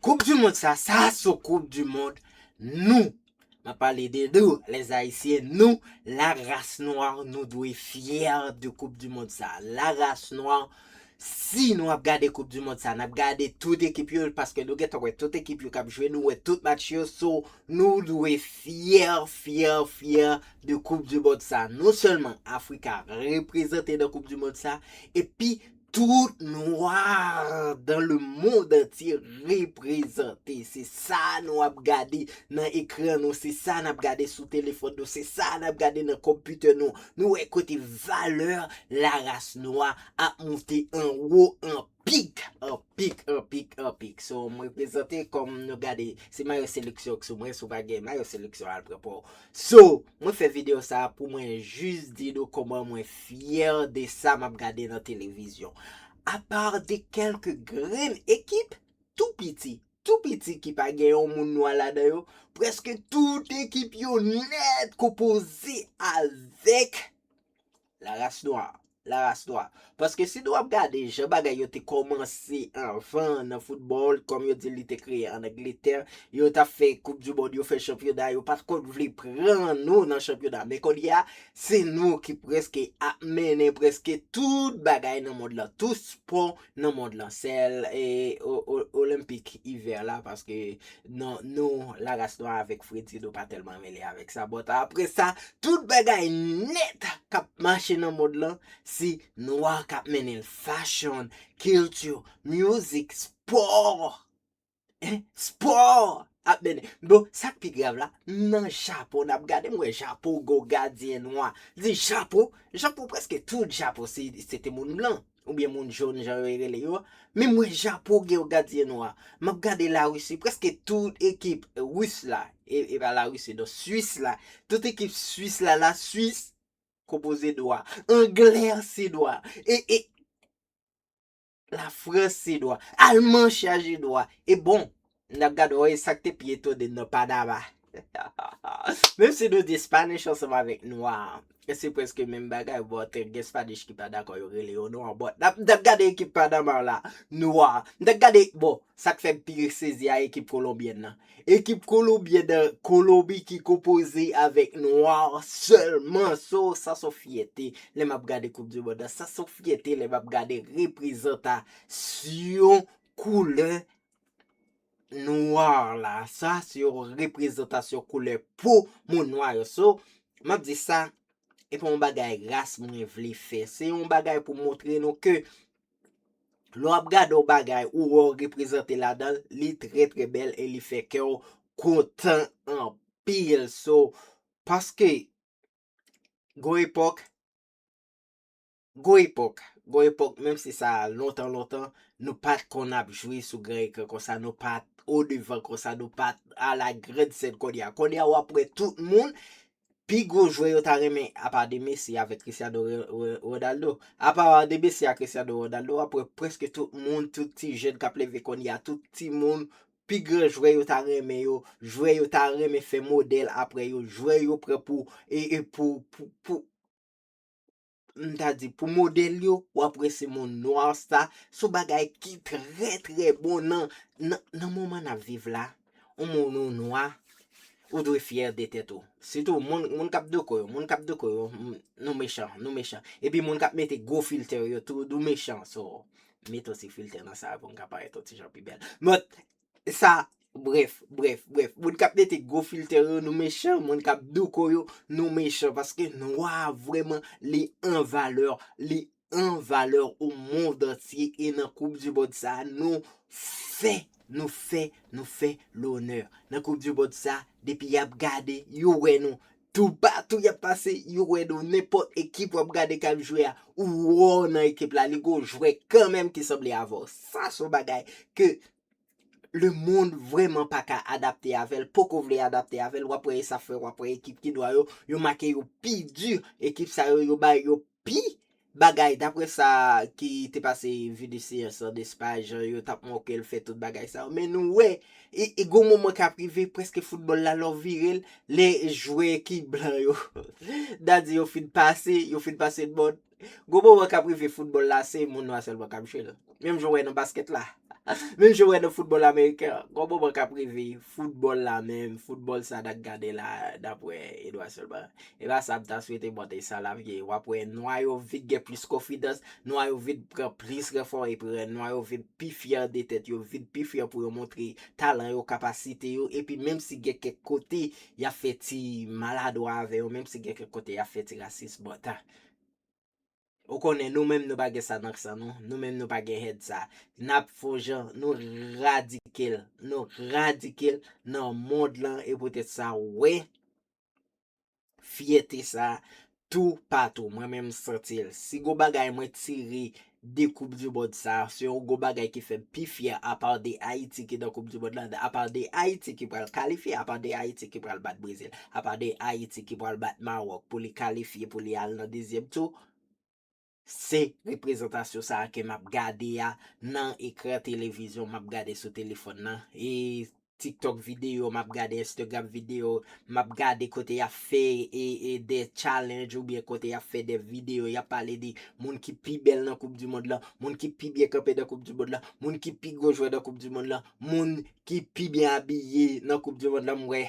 Koup du mond sa, sa son koup du mond nou. Mwen pale de nou, les Haïtiens, nou, la race noire, nou dwe fyè de koup du mond sa. La race noire, si nou ap gade koup du mond sa, n ap gade tout ekip yo, paske nou gentan wè tout ekip yo k ap jwe, nou wè tout match yo, so, nou dwe fyè, fyè, fyè de koup du mond sa. Non sèlman Afrika reprezante nan koup du mond sa, epi Tout noir dans le monde entier reprezante. Se sa nou ap gade nan ekran nou, se sa nap gade sou telefòn nou, se sa nap gade nan computer nou. Nou wè kote valeur la race noire ap moute an wo an pik, an pik, an pik, an pik. So m reprezante kom nou gade, si mayo seleksyon k sou mwen, si w pa gen mayo seleksyon al pran pa w. So, mwen fè video sa pou mwen jis di nou koman mwen fyè de sa map gade nan televizyon. A part de kelke grenn ekip tou piti, tou piti ki pa gen yon moun nwa ladan yo, preske tout ekip yo nèt konpoze avèk La race noire, la race noire. Paske si nou ap gade jan bagay yo te kòmanse anvan nan foutbòl, kòm yo di li te kreye an Angletè, yo tap fè koup di mond, yo fè chanpyona, yo pat konn vle pran nou nan chanpyona. Men kounye a, se nou ki preske ap mennen preske tout bagay nan mond lan, tout spò nan mond lan sèl olenpik ivè la paske nan nou la ras nwa avèk fredi nou pa tèlman mele avèk sa bòt apre sa tout bagay nèt kap mache nan mond lan se nwa kap mennen l fachon kilti mizik spò Sport ap mennen. Bon, sa k pi grav la, m nan Japon, n ap gade, m wè Japon gen yon gadyen nwa. M di, Japon? Japon prèske tout Japon se te moun blan, oubyen moun jòn jan yo rele yo. Men m wè Japon gen yon gadyen nwa. M ap gade Larisi, prèske tout ekip Ris la, e pa Larisi non, Swis la, tout ekip Swis la, la Swis konpoze nwa. Anglè an se nwa. E, e. La France se dwa. Allemand chaje dwa. E bon, n ap gad wè sa k te pi etone nan Panama. Menm si nou di Spanish ansanm avèk nwa, se prèske menm bagay but gen Spanish ki pa dakò yo rele yo nwa but n ap gade ekip Panama la nwa. M ta gade, bon, sa k fè m pi sezi a ekip Colombienne nan. Ekip kolobyen de kolobi ki konpoze avèk nwa sèlman so sa son fyète lè map gade koup di mond la sa son fyète lè map gade reprezanta syon koulè nwa la sa se yon reprezantasyon koulè po moun nwa yo so map di sa epa yon bagay ras mwen vle fè se yon bagay pou montre nou ke Lè w ap gade yon bagay ou wè w reprezante ladan l, li trè trè bèl e li fè kè w kontan anpil. So, paske gon epòk, gon epòk, gon epòk menm si sa lontan lontan, nou pa t konn ap jwe sou gran ekran konsa, nou pa t odevan konsa, nou pa t alagrèn sèn konnya. Konnya w ap wè tout moun Pi gwo jwè yo ta renmen apa de Messi avèk Cristiano Ronaldo. Apa de Messi ak Cristiano Ronaldo wap wè prèske tout moun, tout ti jèn kap leve kounye a, tout ti moun, pi gran jwè yo ta renmen yo, jwè yo ta renmen fè modèl aprè yo, jwè yo pran pou pou m ta di pou modèl yo, w ap wè se moun nwa sa, se yon bagay ki trè trè bon nan, nan, nan moman n ap viv la, yon moun ou nwa, ou dwe fyè de tèt ou, sitou moun, moun k ap doko yo, moun k ap doko yo, m, nou mechan, nou mechan, epi moun k ap mete gwo filtè yo tou, nou mechan, so, mete yon ti filtè nan sa a pou n ka parèt yon ti jan pi bèl, but, sa brèf brèf brèf moun kap mete gwo filtè yo nou mechan moun kap douko yo nou mechan paske nwa vrèman li an valè li an valè ou mond antye e nan koup di mond sa nou fè nou fè nou fè lonè nan koup di mond sa depi yap gade yo wè nou Toupatou y ap pase, yo wè nou. Nenpòt ekip w ap gade k ap jwe a, ou wè w nan ekip la. Li gen yon jwè kanmenm ki sanble avè w. Sa se yon bagay ke lemonn vrèman pa ka adapte avè l, poko vle adapte avè l. W ap wè e sa fè w ap wè ekip ki nwa yo, yo make yo pi di. Ekip sa yo, yo ba yo pi Bagay, daprè sa ki te pase Vinicius an Espay, jan yo t ap moke l, fè tout bagay sa yo. Men nou wè, e gon moman k ap rive, prèske foutbòl la lè w vire l, lè jwè ki blan yo, n a di yo fin pase, yo fin pase l mòn, gon moman k ap rive foutbòl la se moun nwa sèlman k ap jwe l. Menm jan w wè nan baskèt la. Menm jan w wè nan foutbòl ameriken an. Gon moman k ap rive, foutbòl la menm, foutbòl sa n ap gade la, dapre Edouard Selman, e pa sa m ta swete bò de sa l ap ye. W ap wè nwa yo vin gen plis konfidans, nwa yo vin pran plis ranfò epi nwa yo vin pi fyè de tèt yo, vin pi fyè pou yo montre talan yo, kapasite yo. Epi menm si gen kèk kote y ap fè ti maladwa avè yo, menm si gen kèk kote y ap fè ti rasis, bon, ta. Ou konnen nou menm nou pa gen sa nan san nou, nou menm nou pa gen hèt sa. Nap fon jan nou radikil, nou radikil nan mond lan e poutèt sa ou wè fyète sa toupatou. Mwen menm m santi l. Si gon bagay mwen tire de koup du mond sa se yon gwo bagay ki fèm pi fyè apa de ayiti ki nan koup du mond la apa de ayiti ki pral kalifye apa de ayiti ki pral bat brezil apa de ayiti ki pral bat maròk pou li kalifye pou li al nan dezyèm tou se reprezantasyon sa ke map gade a nan ekran televizyon map gade sou telefòn nan e Tiktok video map gade instagram video map gade kote yap fè e de challenge ou byen kote yap fè de video yap pale de moun ki pi bèl nan koup du mond lan moun ki pi byen kanpe nan koup du mond lan moun ki pi gwo jwè nan koup du mond lan moun ki pi byen abiye nan koup du mond lan m wè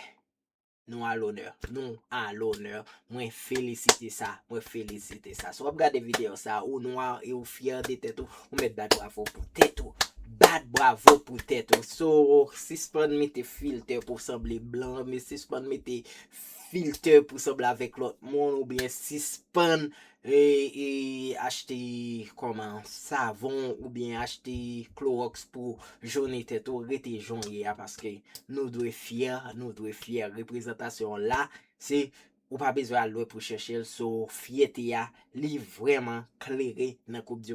Nou a lonè. Nou a lonè. Mwen felisite sa. Mwen felisite sa. Si w ap gade videyo sa, ou nwa e ou fyè de tèt ou, ou mèt bat bravo pou tèt ou. Bat bravo pou tèt ou. So, sispann mete filtè pou w sanble blan, sispann mete filtè pou w sanble avèk lòt moun, oubyen sispann E achte kòman savon ou byen achte kloroks pou jone tèt ou rete jan w ye a paske nou dwe fyè nou dwe fyè reprezantasyon w la se ou pa bezwen al lwen pou chèche l so fyète a li vrèman klere nan koup di